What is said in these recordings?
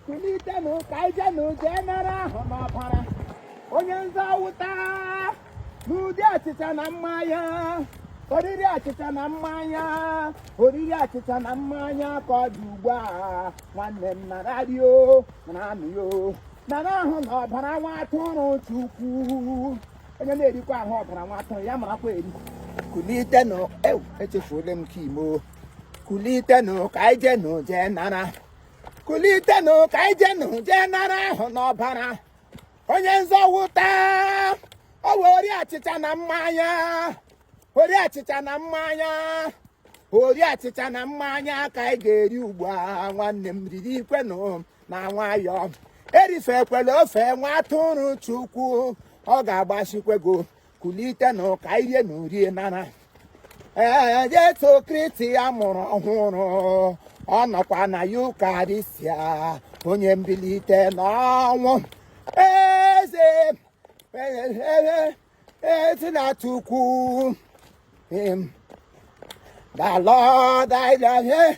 kulitenụ ka anyị jenụ jee nara ahụ na ọbara onye nzọwụta n'ụdị achịcha na mmanya oriri achịcha na mmanya oriri achịcha na mmanya ka ọ dị ugbu a nwanne m nara rie o nara ṅụọ o nara ahụ na ọbara nwa atụrụ chukwu onye na-erikwa ahụ ọbara nwa atụrụ ya marakwa eri kulitenụ ewu echefuola m ka imo kulitenụ ka anyị jenụ jee nara kulitenụ ka anyị jenụ jee nara ahụ na ọbara onye nzọwụta ọ wee oriri achịcha na mmanya oriri achịcha na mmanya oriri achịcha na mmanya ka anyị ga-eri ugbu a nwanne m ririkwenụ na nwayọọ erifekwela ofe nwa atụrụ chukwu ọ ga-agbasikwe gị kulitenụ ka anyị rienụ rie nara ee Jesu Kristi ya mụrụ ọhụrụ ọ nọkwa na Yukarịstịa onye mbilite n'ọnwụ eze ezi na Chukwu the Lord I love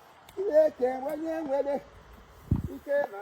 Chineke onye nwere ike na